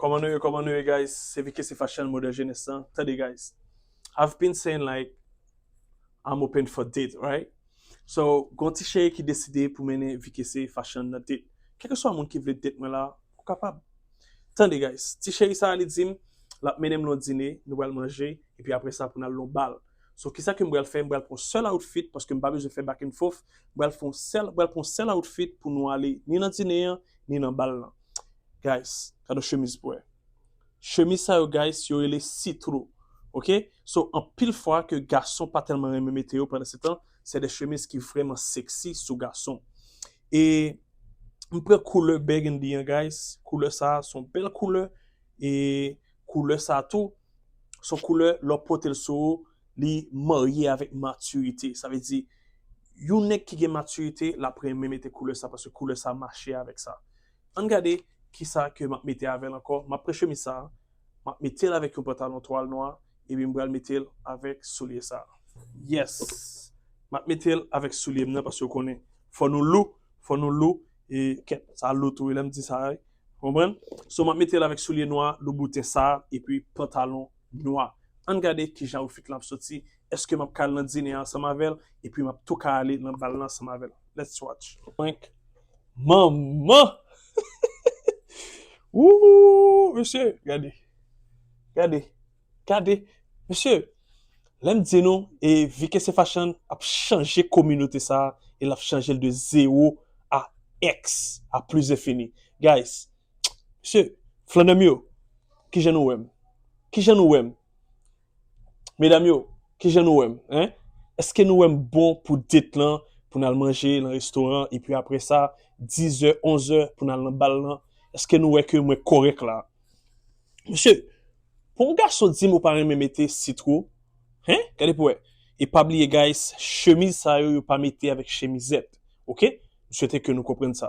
Koman nou ye koman nou ye guys se vkc fashion model jenes lan tande guys I've been saying like I'm open for date right so gon ti cheri ki deside pou mennen vkc fashion nan date kelkeswa moun ki vle date mwen la ou kapab tande guys ti cheri sa li dim lap mennenm lon dine nou pral manje epi aprè sa pou nal lon bal so kisa kem pral fè m pral pran sèl outfit paske m pa bezwen fè back and forth m pral fon sèl pral pran sèl outfit pou nou ale ni nan dine an ni nan bal lan. guys gade chemiz pwè chemiz sa yo guys yo rele sitro ok so anpil fwa ke gason pa tèlman renmen mete yo pandan se tan se de chemiz ki vreman sexy sou gason e m pran koulè burgundy an guys koulè sa son bèl koulè e koulè sa tou son koulè lè w pote l sou ou li marye avèk matirite, sa vle di yon nèg ki gen matirite l ap renmen mete koulè sa paske koulè sa mache avèk sa. An n gade ki sa ke m ap mete avè l ankò, m ap pran chemiz sa a, m ap mete l avèk yon pantalon twal nwa epi m pral mete l avèk soulye sa a. Yes! M ap mete l avèk soulye m nan paske ou konnen fò nou lou, fò nou lou e kèt sa lou tou wi lè m di sa a wi. Ou konprann? So m ap mete l avèk soulye nwa loubouten sa a epi pantalon Nwa. Ann gade ki jan outfit lan ap soti, èske m ap ka al nan dine an ansanm avè l epi m ap tou ka ale nan bal lan ansanm avè l? Let's watch. Prank. Manman! Ooh! Mesye, gade. Gade. Gade. Mesye, lè m di nou e VK Sefachan ap chanje kominote sa a e l ap chanje l de zewo a èks, a plizenfini. Guys, Mesye, flannè m yo, ki jan nou wè m? Ki jan nou wè m? Medam yo, ki jan nou wè m? Hein? Eske nou wè m bon pou date lan, pou n al manje lan restoran, epi apre sa, dizè, onzè, pou n al lan bal lan? Eske nou wè ke mwen kòrèk la? Mesye, pou yon gason di m ou pa renmen mete sitro, hein? Gade pou wè. E pa bliye guys, chemiz sa yo yo pa mete avèk chemizèt. Ok? M swete ke nou konprann sa.